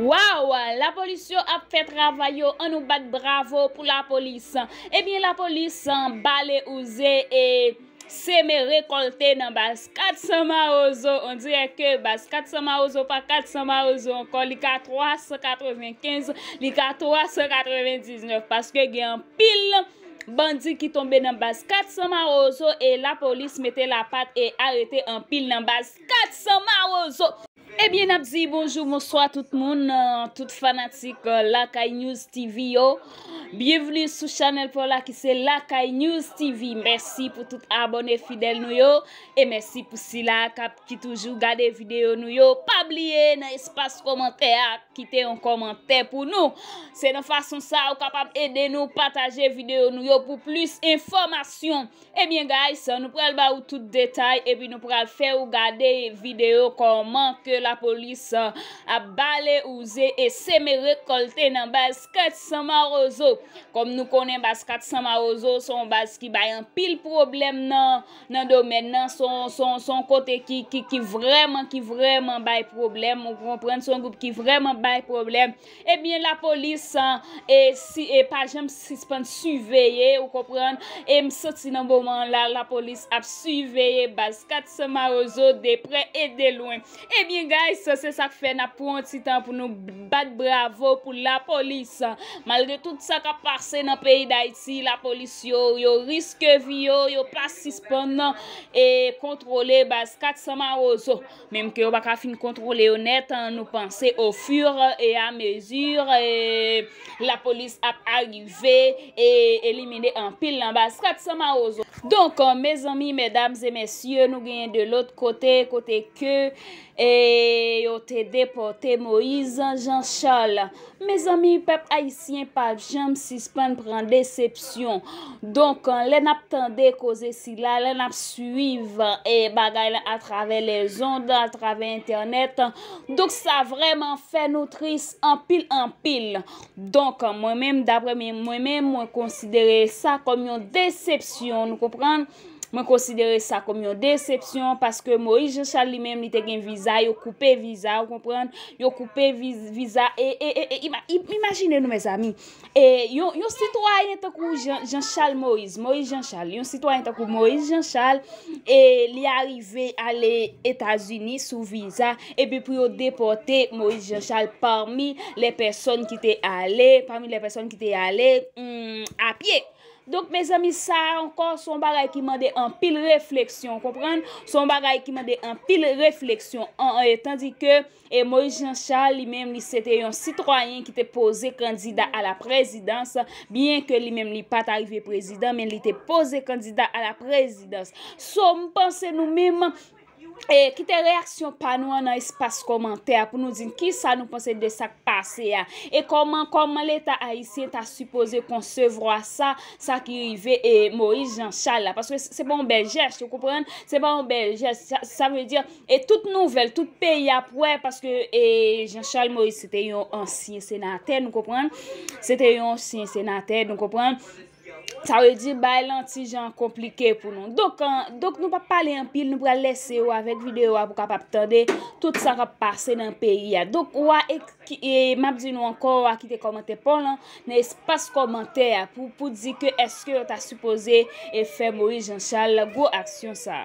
Waww la polis yo ap fè travay yo an nou bat bravo pou la polis ebyen la polis bale ouze e seme rekolte nan baz 400 mawozo on dirè ke baz 400 mawozo pa 400 mawozo ankò li ka 395 li ka 399 paske gen anpil bandi ki tonbe nan baz 400 mawozo e la polis mete la pat e arete anpil nan baz 400 mawozo. Ebyen nap di bonjou bonswa tout moun tout fanatik lakay news TV yo byenvni sou chanèl paw la ki se lakay news TV mèsi pou tout abòne fidèl nou yo e mèsi pou sila kap ki toujou gade videyo nou yo pa bliye nan espas kòmantè a kite yon kòmantè pou nou se nan fason sa ou kapab ede nou pataje videyo nou yo pou plis enfòmasyon. Ebyen guys nou pral ba ou tout detay epi nou pral fè ou gade video kòman ke la polis ap bale ouze e seme rekolte nan baz 400 mawozo kòm nou konnen baz 400 mawozo se yon baz ki bay anpil pwoblèm nan nan domèn nan se yon kote ki vrèman ki vrèman bay pwoblèm ou konprann se yon gwoup ki vrèman bay pwoblèm Ebyen la polis e pa janm sispann siveye ou konprann e m santi nan moman la la polis ap siveye baz 400 mawozo de prè e de lwen ebyen guys se sak fè nap pran yon ti tan pou nou bat bravo pou la polis malgre tout sa kap pase nan peyi dayiti la polis yo yo riske vi yo yo pa sispann e kontwole baz 400 mawozo. Menm ke yo pa ka fin kontwole yo nèt, nou panse au fur et à mesure la police ap arive e elimine anpil nan baz kat san mawozo. Donk mezanmi, mesdames et messieurs, nou genyen de lôt kote, kote ke yo te depote Moïse Jean Charles. Mezanmi pèp ayisyen pap janm sispann pran desepsyon donk lè nap tande koze sila lè nap swiv bagay la atravè lèzond atravè entènèt donk sa vrèman fè nou tris anpil anpil donk mwen menm daprè mwen menm mwen konsidere sa kòm yon desepsyon nou konprann. Mwen konsidere sa kòm yon desepsyon paske Moïse Jean Charles li menm li te gen viza yo koupe viza ou konprann yo koupe viza e imajine nou mezanmi e yon sitwayen tankou Jean Charles Moïse Moïse Jean Charles yon sitwayen tankou Moïse Jean Charles e li arive ale etazini sou viza epi pou yo depote Moïse Jean Charles parmi le person ki te ale parmi le person ki te ale a pye Donk mezanmi sa a ankò se yon bagay ki mande anpil refleksyon ou konprann, se yon bagay ki mande anpil refleksyon an e tandi ke e Moïse Jean Charles li menm li se te yon sitwayen ki te poze kandida a la prezidans byen ke li menm li pa ta rive prezidan men li te poze kandida a la prezidans so m panse nou menm e kite reyaksyon pa nou an nan espas kòmantè pou nou di n kisa nou panse de sa k pase a e kòman kòman leta ayisyen ta sipoze konsevwa sa sa ki rive e Moïse Jean Charles la paske se pa yon bèl jès ou konprann se pa yon bèl jès sa vle di e tout nouvèl tout peyi ap wè paske e Jean Charles Moïse se te yon ansyen senatè nou konprann se te yon ansyen senatè nou konprann. Sa vle di bagay lan ti jan konplike pou nou. Donk nou pap pale anpil, nou pral lese ou avèk videyo a pou kapab tande tout sa kap pase nan peyi a. Donk ou a e map di nou ankò ou a kite kòmantè paw lan nan espas kòmantè a pou di ke eske yo ta sipoze e fè Moïse Jean Charles gwo aksyon sa.